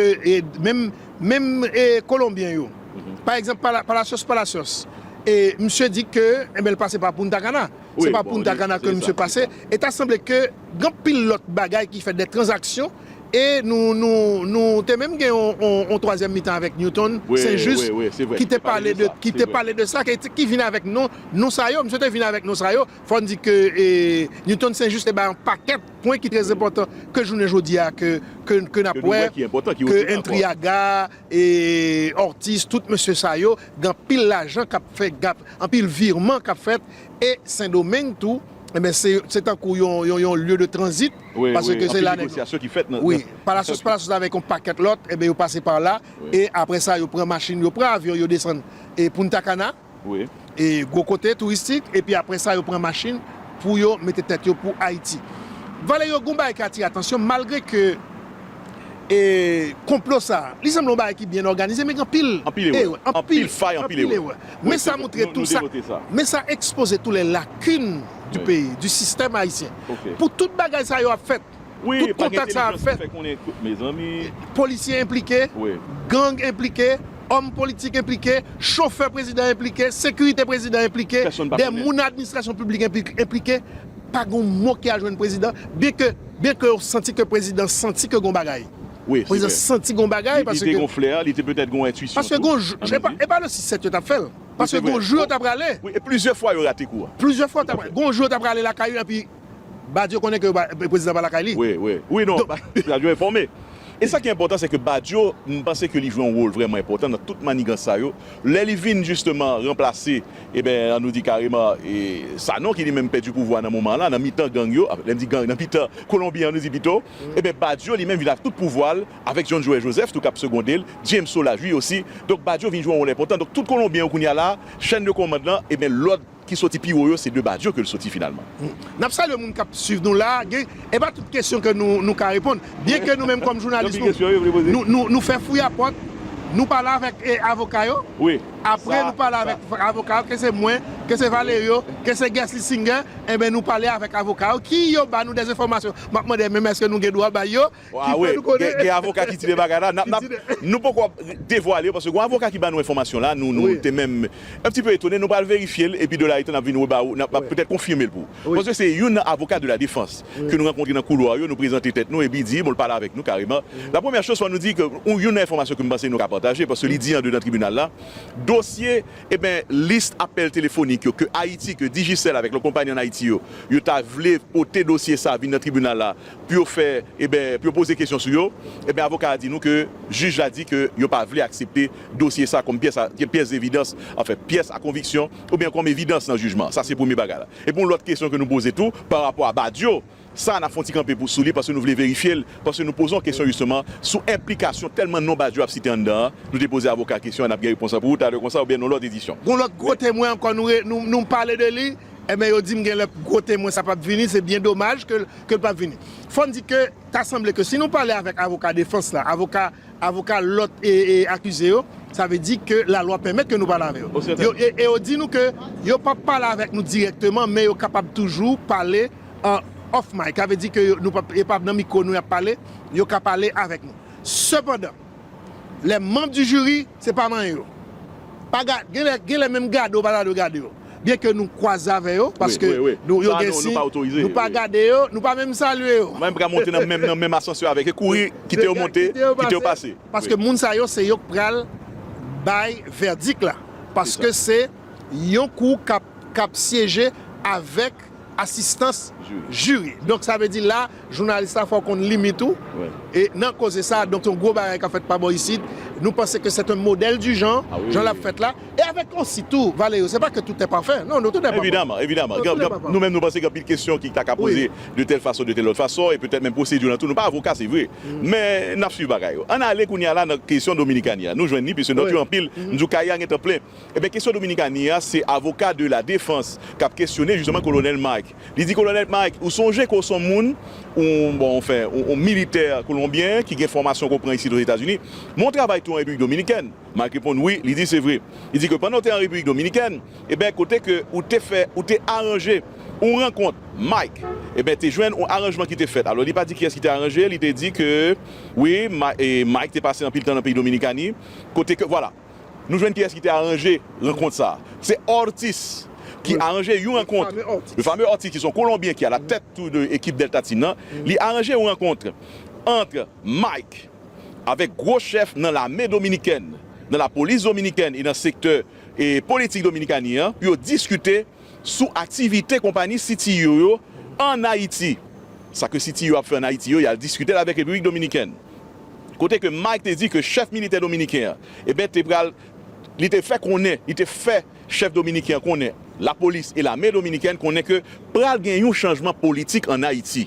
menm menm kolonbyen yo pa egzanp Palacios Palacios e misye di ke enben li pase pa Punta Cana se pa Punta Cana ke misye pase e ta sanble ke gen anpil lòt bagay ki fèt de tranzaksyon e nou nou nou te menm gen yon twazyèm mitan avèk Newton Saint Juste ki te pale de sa ki vin avèk non sa yo misye te vin avèk non sa yo. Fò n di ke Newton St. Juste te bay yon pakèt pwen ki trèzenpòtan ke jounen jodi a ke n ap wè, ke Entriaga, Ortiz, tout mesye sa yo gen anpil lajan k ap fè, anpil virman k ap fèt e Sendomeng tou enben se tankou yon lye de tranzit paske se la nèg yo, wi, Palacios Palacios avèk yon pakèt lòt enben yo pase pa la e apre sa yo pran machin, yo pran avyon yo desann Punta Cana. gwo kote touristik epi aprè sa yo pran machin pou yo mete tèt yo pou Ayiti. Valè yo gon bagay ki atire atansyon malgre ke konplo sa a li sanble yon bagay ki byen òganize men gen anpil erè, anpil fay, anpil erè. Men sa montre tou sa, men sa ekspoze tou les lacunes du pays, du système haïtien. Pou tout bagay sa yo ap fèt, Tout kontak sa ap fèt. Polisye enplike, gang enplike, òm politik enplike, chofè prezidan enplike, sekirite prezidan enplike, dè moun nan administrasyon piblik enplike, pa gen yon mou ki al jwenn prezidan, byen ke byen ke yo santi ke prezidan santi ke gen yon bagay. Prezidan santi gen yon bagay paske. Li te gen yon flè, li te petèt gen yon entwisyon tou. Paske gen yon jou, se pa, e pa le 6 7 yo t ap fè l. Paske gen yon jou yo t ap prale. Wi, e plizyè fwa yo rate kou a. Plizyè fwa yo t ap prale. Gen yon jou yo t ap prale lakay yo epi. Badio konnen ke prezidan pa lakay li. Wi, wi, wi non, Badio enfòme. E sa ki enpòtan se ke Badio, m panse ke li jwe yon wol vrèman enpòtan nan tout manigans sa yo. Lè li vin jisteman ranplase, eben, an nou di kareman, e, Sanon ki li menm pèdi pouvwa nan moman la, nan mitan gang yo, lè m di gang, nan mitan Kolonbi an nou di pito, eben, Badio li menm vin ak tout pouvwa l, avèk John Joe Joseph tou k ap segonde l, James Soulage, li osi. Donk Badio vin jwe yon wol enpòtan. Donk tout Kolonbyen yo kounye a la, chèn de kòmand lan, eben, lòd. ki soti pi wo yo se de Badio ke l soti finalman. N ap salye moun k ap swiv nou la a. Gen e pa tout kesyon ke nou nou ka reponn. Byen ke nou menm kòm jounalis nou nou nou fè fouyapòt, nou pale avèk e avoka yo, apre nou pale avèk avoka yo, ke se mwen, ke se Valerio, ke se Guersley Singer, enben nou pale avèk avoka yo ki yo ba nou dèzenfòmasyon. M ap mande menm èske nou gen dwa bay yo? Ki fè nou konnen. Gen avoka ki di de bagay la. Nou poko ap devwale yo paske gon avoka ki ba nou enfòmasyon la, nou te menm un petit peu etone, nou pral verifye l epi de la etan n ap vin reba ou, n ap petèt konfime l pou ou. Paske se youn nan avoka de la defans ke nou rankontre nan koulwa yo, nou prezante tèt nou epi di bon l pale avèk nou kareman. La premyè choz fò nou di ke youn nan enfòmasyon ke m panse nou ka pataje paske li di andedan tribinal la, dosye eben lis apèl telefonik yo ke Ayiti, ke Digicel avèk lòt konpayi an Ayiti yo, yo ta vle pote dosye sa vin nan tribinal la, pou yo fè eben pou yo poze kesyon sou yo eben avoka a di nou ke jij la di ke yo pa vle aksepte dosye sa kòm pyès a pyès devidans anfen pyès a konviksyon oubyen kòm evidans nan jijman sa se premye bagay la epi yon lòt kesyon ke nou poze tou pa rapò a Badio sa nap fè yon ti kanpe pou sou li paske nou vle verifye l paske nou poze yon kesyon jisteman sou enplikasyon tèlman non Badio ap site anndan an nou te poze avoka a kesyon an nap gen repons la pou ou talè konsa oubyen nan yon lòt edisyon. Gon lòt gwo temwen ankò nou nou pale de li Enben yo dim genlè gwo temwen sa pap vini se byen domaj ke l pap vini. Fò n di ke ta sanble ke si nou pale avèk avoka defans la, avoka avoka lòt akize yo, sa vle di ke lalwa pèmèt ke nou pale avè yo. E yo di nou ke yo pap pale avèk nou dirèkteman men yo kapab toujou pale an off mic, sa vle di ke yo pap nan mikwo nou y ap pale, yo ka pale avèk nou. Sepandan. Les membres du jury se pa manyen yo pa ga genlè genlè menm gade ou pa ta dwe gade yo byen ke nou kwaze avè yo paske nou yo gen si nou pa gade yo nou pa menm salye yo manyen pral monte nan menm nan menm asansè avèk yo kouri kite yo monte kite yo pase paske moun sa yo se yo k pral bay vèdik la paske se yon kou kap kap syeje avèk. ak asistans jiri. Donk sa vle di la jounalis la fò w konn limit ou e nan koze sa donk se yon gwo bagay k ap fèt pa bò isit. Nou panse ke sèt an modèl di jan jan l ap fèt la e avèk osi tou Valerio se pa ke toutè pafè non toutè pa pafè non toutè pa pafè. Nou menm nou panse gen anpil kesyon ki ta ka poze de tèl fason de tèl lòt fason e petèt menm pwosedi lan tou nou pa avoka se vre men n ap swiv bagay yo. Ann ale kounye a la nan kesyon Dominikani a nou jwenn ni plis ni plis nou anpil m di w kay la gen tan plen. Ebyen kesyon Dominikani a se avoka de la defans kap kesyone jisteman kolonèl Mike. Li di kolonèl Mike ou sonje ke w son moun, ou bon anfen yon militè kolonbyen ki gen fòmasyon ke w pran isit Ozetazini, men w travay tou an Repiblik Dominikèn? Mike reponn wi, li di se vre. Li di ke pandan w te an Repiblik Dominikèn, ebyen kote ke ou te fè, ou te aranje yon rankont. Mike ebyen te jwenn yon aranjman ki te fèt. Alò li pa di kiyès ki te aranje, li te di ke wi Mike te pase anpil tan nan peyi Dominikani kote ke vwala. Nou jwenn kiyès ki te aranje rankont sa a. Se Ortiz ki aranje yon rankont, le fameux Ortiz ki se yon kolonbyen ki alatèt tou de ekip Delta Team nan, li aranje yon rankont antre Mike avèk gwo chèf nan lame dominikèn, nan lapolis dominikèn e nan sektè politik Dominikani an pou yo diskite sou aktivite konpani CTU yo an Ayiti. Sa ke CTU ap fè an Ayiti yo, y al diskite l avèk Repiblik Dominikèn. Kote ke Mike te di ke chèf militè dominiken an, eben te pral, li te fè konnen, li te fè chèf dominiken an konnen, lapolis e lame dominikèn konnen ke pral gen yon chanjman politik an Ayiti.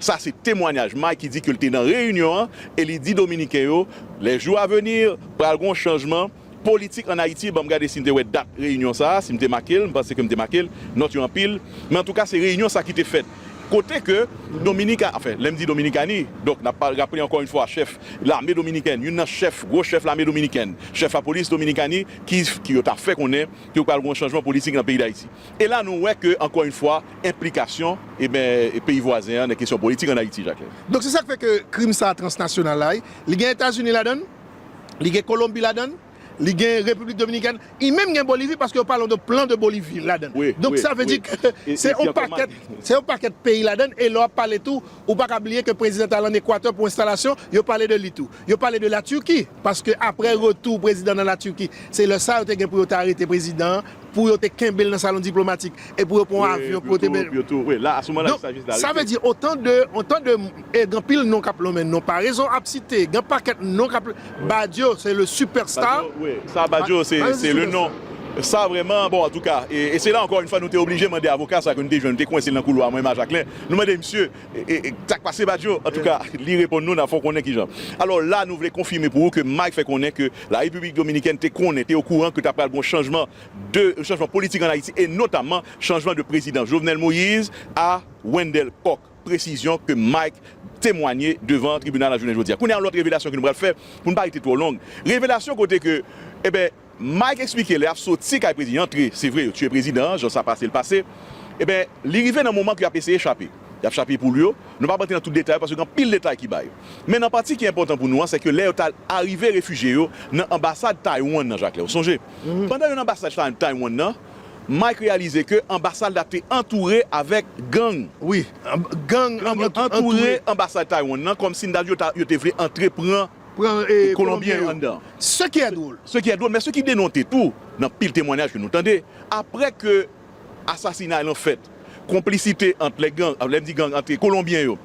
Sa se temwanyaj Mike ki di ke l te nan reyinyon an e li di dominiken yo, les jours à venir, pral gon chanjman. Politik an Ayiti banm gade sim te wè dat reyinyon sa a, sim te makel, m panse ke m te makel, nòt yo anpil, men antouka se reyinyon sa ki te fèt kote ke Dominika, anfen lèm di Dominikani donk nap pa raple ankò yn fwa chèf lame dominikèn, youn nan chèf gwo chèf lame dominikèn, chèf lapolis Dominikani ki ki yo ta fè konnen ke pral gon chanjman politik nan peyi Dayiti. E la nou wè ke ankò yn fwa enplikasyon eben peyi vwazen an nan kesyon politik an Ayiti Jaklen. Donk se sak fè ke krim sa a transnasyonal la wi, li gen Etazini ladann? li gen Kolonbi ladan l, li gen Repiblik Dominikèn, li menm gen Bolivi paske yo pale yon plan de Bolivi ladan l. Donk sa vle di ke se yon pakèt, se yon pakèt peyi ladan l e lè w ap pale tou ou pa ka bliye ke prezidan t al ann Ekwatè pou enstalasyon, yo pale de li tou. Yo pale de La Turquie paske aprè retou prezidan nan La Turquie se lè sa yo te gen pou yo te arete prezidan an. pou yo te kenbe l nan salon diplomatik e pou yo pran yon avyon pou yo te mennen l. Sa vle di otan de e gen anpil non k ap lonmen non parezon ap site gen pakèt non k ap Badio se le super star Badio se le non sa vrèman bon antouka e se la ankò yn fwa nou te oblije mande avoka sa ke nou te jwenn nou te kwense l nan koulwa mwen e Majaklen nou mande misye Sak pase Badio? Antouka, li reponn nou, n ap fè w konnen kijan. Alò, la nou vle konfime pou ou ke Mike fè konnen ke La Repiblik Dominikèn te konnen, te okouran ke ta pral gen yon chanjman de, yon chanjman politik an Ayiti e notamman chanjman de prezidan Jovenel Moïse a Wendell Coq. Presizyon ke Mike temwanye devan tribinal la jounen jodi a. Kounye a yon lòt revelasyon ke nou pral fè pou n pa rete twò long. Revelasyon kote ke, eben, Mike eksplike lè yap soti kay prezidan antre se vre yo tiye prezidan an jan sa pase l pase eben li rive nan moman pou yap eseye chape yap chape poul yo nou pap antre nan tout detay yo paske gen anpil detay ki bay men nan pati ki enpòtan pou nou an sèke lè yo ta arive refijye yo nan anbasad Taiwan nan Jakle ou sonje pandan yo nan anbasad Taiwan nan Mike reyalize ke anbasad la te antoure avèk gang wi gang yo antoure anbasad Taiwan nan kòmsi yo ta yo te vle antre pran. pran kolonbyen yo. Se ki è dwol. Se ki è dwol men se ki denonte tou nan pil temwanyaj ke nou tande apre ke asasinay lan fèt konplisite ant lè gang, lè m di gang ant kolonbyen yo,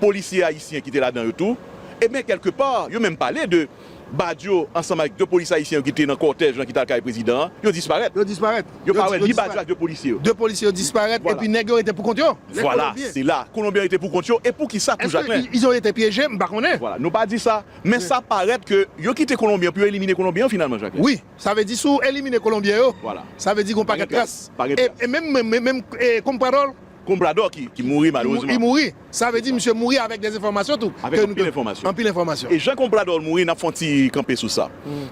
polisye ayisyen ki te ladan yo tou ebyen kèlke pa yo menm pale de Badio ansanm ak 2 polisye ayisyen yo ki te nan kòtèj lan ki t al kay prezidan an yo disparèt. Yo disparèt. Yo pa wè ni badi yo ak 2 polisye yo. 2 polisye yo disparèt epi nèg yo rete pou kont yo? Vwala, se la, kolonbyen rete pou kont yo e pou kisa tou Jakmè? Eske yo rete pyeje? M pa konnen. Vwala, nou pa di sa, men sa parèt ke yo kite kolonbyen pou yo elimine kolonbyen yo finalman Jakmè. Wi, sa vle di si w elimine kolonbyen yo, sa vle di gen yon pakèt tras. E menm menm menm Comprador? Comprador ki mouri malerezman. Li mouri. Sa vle di misye mouri avèk dè enfòmasyon tou. Avèk anpil enfòmasyon. Anpil enfòmasyon. E jan Comprador mouri nap fè yon ti kanpe sou sa.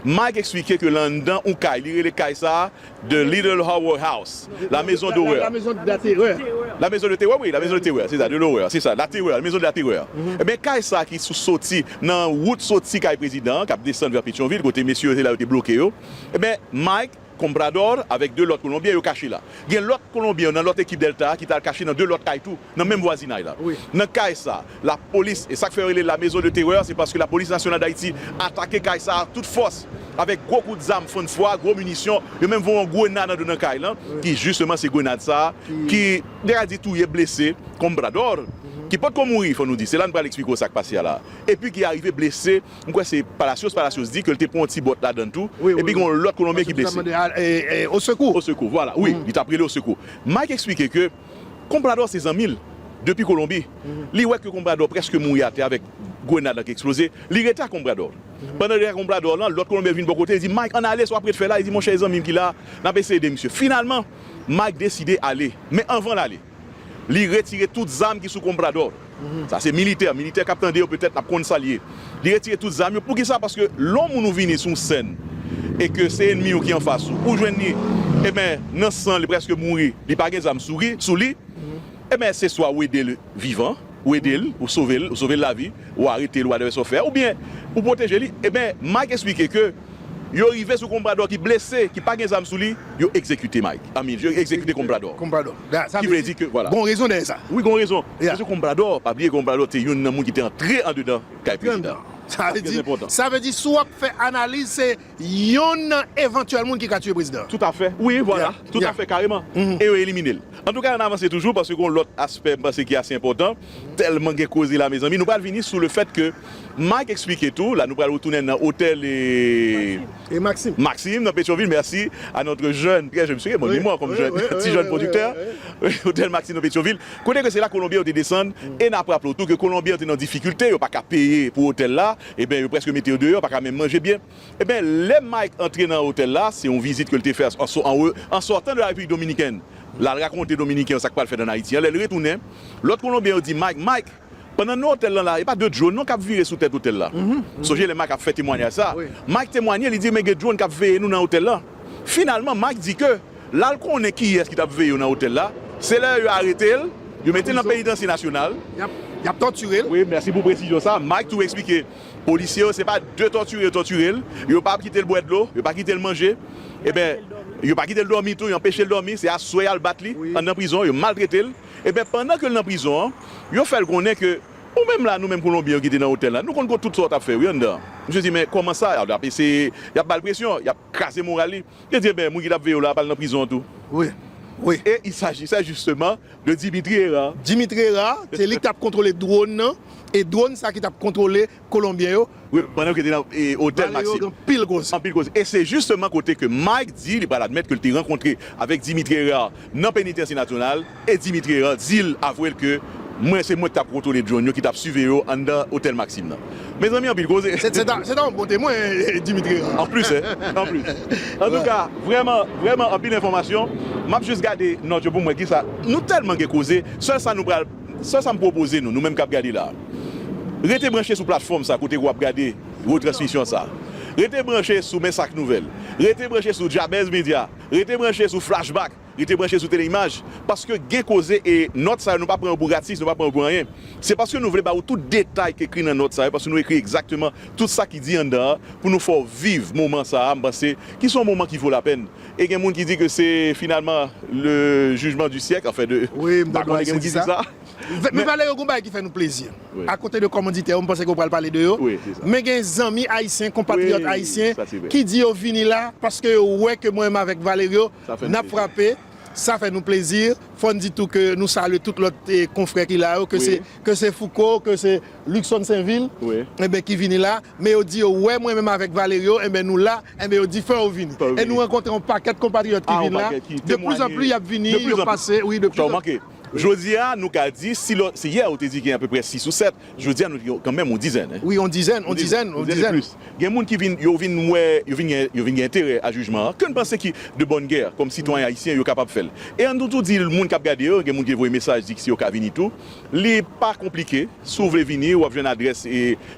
Mike eksplike ke lan anndan yon kay, li rele kay sa The Little Horror House, La Maison d'Horreur. La Maison de la Terreur. La Maison de Terreur wi, La Maison de Terreur, se sa, de l'horreur, se sa, la terreur, la maison de la terreur. Enben kay sa ki sou soti nan wout soti kay prezidan an kap desann vè Petyonvil kote mesye yo se la yo te bloke yo. Enben Mike Comprador avèk 2 lòt kolonbyen yo kache la. Gen lòt kolonbyen yo nan lòt ekip Delta a ki t al kache nan 2 lòt kay tou nan menm vwazinay la. Nan kay sa a, lapolis, e sa k fè yo rele la maison de terreur se paske lapolis nasyonal Dayiti atake kay sa a ak tout fòs, avèk gwo kout zam fann fwa, gwo minisyon, yo menm voye yon grenad andan nan kay lan ki jisteman se grenad sa a ki m ta ka di touye, blese Comprador ki potko mouri fò nou di, se la n pral eksplike w sa k pase a la a, epi ki arive blese. m kwè se Palacios, Palacios di ke l te pran yon ti bòt ladann tou, epi gen yon lòt Kolonbyen ki blese. Osekou! Osekou! Vwala, wi, li t ap rele osekou. Mike eksplike ke Comprador se zanmi l depi Kolonbi. Li wè ke Comprador prèske mouri atè avèk grenad lan ki eksploze. Li rete ak Comprador. Pandan li rete ak Comprador lan, lòt Kolonbyen vin bò kote, li di, Mike, ann ale, sa w ap ret fè la? Li di, Monchè, e zanmi m ki la a? N ap eseye ede misye. Finalman, Mike deside ale. Men anvan l ale. Li retire tout zam ki sou Comprador. Sa se militè. Militè k ap tande yo petèt ap konn sa l ye. Li retire tout zam yo. Poukisa? Paske lè yon moun ou vini sou yon sèn e ke se enmi ou ki anfas ou, ou jwenn li enben nan san, li prèske mouri, li pa gen zam sou li, enben se swa ou ede l vivan, ou ede l, ou sove l, ou sove l lavi, ou arete l, ou whatever sa w fè, oubyen ou pwoteje li. Enben, Mike esplike ke. Yo rive sou Comprador ki blese, ki pa gen zam sou li, yo egzekite Mike, I mean, yo egzekite Comprador. Comprador. Ki vle di ke, vwala. Gon rezon dèyè sa. Wi gon rezon. Paske Comprador, pa bliye Comprador te youn nan moun ki te antre andedan kay prezidan an. Sa vle di, sa vle di si w ap fè analiz se youn nan evantyèl moun ki ka tiye prezidan an. Tout a fè. Wi, vwala. Tout a fè kareman. E yo elimine l. Antouka an avanse toujou paske gon lòt aspè m panse ki ase enpòtan. Tèlman gen koze la mezanmi. Nou pral vini sou le fèt ke Mike eksplike tou, la nou pral retounen nan otèl Maxime nan Petyonvil, mèsi a notre jeune, trè jeune, misye gen bon memwa kòm jeune, ti jeune pwodiktè, otèl Maxime nan Petyonvil, kote ke se la Kolonbyen yo te desann e nap raple tou ke Kolonbyen yo te nan difikilte, yo pa ka peye pou otèl la, eben yo prèske mete yo deyò, yo pa ka menm manje byen. Eben lè Mike antre nan otèl la, se yon vizit ke l te fè an sòtan de la Repiblik Dominikèn, L al rakonte Dominiken yo sa k pral fèt ann Ayiti an. Lè l retounen, lòt Kolonbyen yo di Mike, Mike, pandan n nan otèl lan la, e pa de dwòn non k ap vire sou tèt otèl la. Sonje lè Mike ap fè temwanyaj sa a, Mike temwanye, li di men gen dwòn k ap veye nou nan otèl lan. Finalman, Mike di ke l al konnen kiyès ki t ap veye yo nan otèl la. Se lè yo arete l, yo mete l nan penitansye nasyonal. Y ap tòtire l. Wi, mèsi pou presizyon sa a. Mike tou eksplike. Polisye yo se pa de tòtire yo tòtire l, yo pa kite l bwè dlo, yo pa kite l manje, eben yo pa kite l dòmi tou, yo anpeche l dòmi, se aswè y al bat li anndan prizon an, yo maltrete l, eben pandan ke l nan prizon an, yo fè l konnen ke ou menm la, nou menm Kolonbyen yo ki te nan otèl la, nou konn tout sa w t ap fè wi anndan an. Misye di men kòman sa, y ap eseye, y ap ba l presyon, y ap. Kraze moral li. Yo di, Eben, moun ki t ap veye w la a pral nan prizon an tou. Wi. Wi. E il sajisè jisteman de Dimitri Herard. Dimitri Herard, se li k t ap kontwole dwòn nan, e dwòn sa ki t ap kontwole kolonbyen yo. Wi, pandan yo te nan otèl Maxim. Valerio gen anpil koze. Anpil koze. E se jisteman kote ke Mike di li pral admèt ke l te rankontre avèk Dimitri Herard nan Penitansye Nasyonal. E Dimitri Herard di l, avwe l ke, Mwen, se mwen ki t ap kontwole drone yo, ki t ap siveye yo anndan Otèl Maxim nan. Mezanmi anpil koze! Se ta yon bon temwen, Dimitri Herard. Anplis hein, anplis. Antouka, vrèman, vrèman anpil enfòmasyon. M ap jis gade nòt yo pou m wè kisa. Nou tèlman gen koze, sèl sa nou pral, sèl sa m pwopoze nou, nou menm k ap gade la a. Rete branche sou platfòm sa kote ke w ap gade retransmisyon sa a. Rete branche sou Men Sak Nouvèl. Rete branche sou Jabez Media. Rete branche sou Flashback. Rete branche sou Tele Imaj, paske gen koze e nòt sa yo nou pa pran yo pou gratis, nou pa pran yo pou anyen. Se paske nou vle ba ou tout detay k ekri nan nòt sa yo, paske nou ekri egzakteman tout sa ki di anndan an pou nou fè w viv moman sa a, m panse, ki se yon moman ki vo lapèn. E gen moun ki di ke se finalman le jugement du siècle, anfen de, m pa konnen gen moun ki di sa. Nou pale yo gon bagay ki fè nou plezi akote de komanditè yo m panse ke ou pral pale de yo men gen zanmi ayisyen konpatriyòt ayisyen ki di yo vini la paske yo wè ke mwen m avèk Valerio n ap frape sa fè nou plezi fò n di tou ke nou salye tout lòt konfrè ki la yo ke se Fouco ke se Luckson Senvil enben ki vini la men yo di yo wè mwen menm avèk Valerio enben nou la enben yo di fè yo vini e nou rankontre yon pakèt konpatriyòt ki vini la de pli zan pli y ap vini yo pase wi de pli zan pli. Jodi a, nou ka di, si lò, si yè ou te di gen apeprè sis ou sèt, jodi a nou gen kanmenm yon dizèn. Wi, yon dizèn, yon dizèn, yon dizèn e plis. Gen moun ki vin, yo vin wè, yo vin gen, yo vin gen enterè a jijman an, ke n panse ki de bòn gè, kòm sitwayen ayisyen, yo kapab fè l. E an nou tou di l moun k ap gade yo, gen moun ki voye mesaj di si yo ka vini tou. Li pa konplike. Si w vle vini, w ap jwenn adrès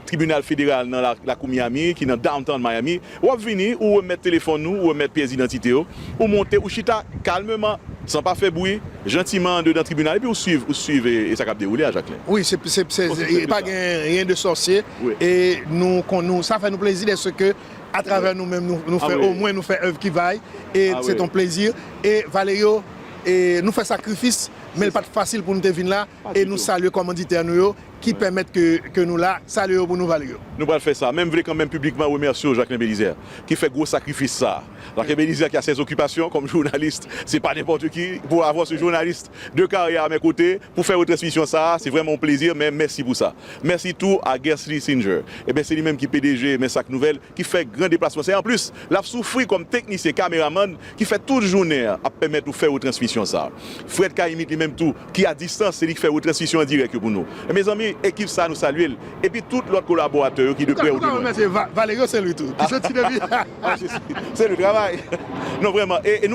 Tribinal Federal nan Lakou Miami ki nan Downtown Miami. W ap vini, ou remèt telefòn ou, ou remèt pyès idantite yo, ou monte, ou chita kalmeman, san pa fè bwi, jantiman andedan tribinal epi ou suiv, ou suiv e sa k ap dewoule a, Jacquelin. Wi, se, se, se, Osi senp ke pa sa. gen ryen de sòsye e nou kon, nou, sa fè nou plezi dèske atravè nou menm nou, nou fè, omwen nou fè èv ki vay e sèt yon plezi e Valerio e nou fè sakrifis, men l pa t fasil pou nou te vin la. E nou salye kòmanditè nou yo ki pèmèt ke nou la, salye yo pou nou vale yo. Nou pral fè sa, men m vle kanmenm piblikman remèsye w Jacquelin Belizaire ki fè gwo sakrifis sa a. Jacquelin Belizaire ki a ses occupations kòm journaliste, se pa nenpòte ki pou avwa se journaliste de karyè a mè kote pou fè retransmisyon sa a, se vrèman yon plezi men mèsi pou sa. Mèsi tou a Guercely Singer, eben se li menm ki pdg Mensak Nouvèl ki fè gran deplasman sa e anplis l ap soufri kòm teknisyen kameramann ki fè tout jounen an ap pèmèt nou fè retransmisyon sa a. Fred K-imit li menm tou ki a distans se li ki fè retransmisyon an dirèk yo pou nou mezanmi ekip sa nou salye l epi tout lòt kolaboratè yo ki de prè ou de lwen. Ou ka remèsye Valerio Saint Louis tou ki soti depi. Saint Louis travay non vrèman e nou.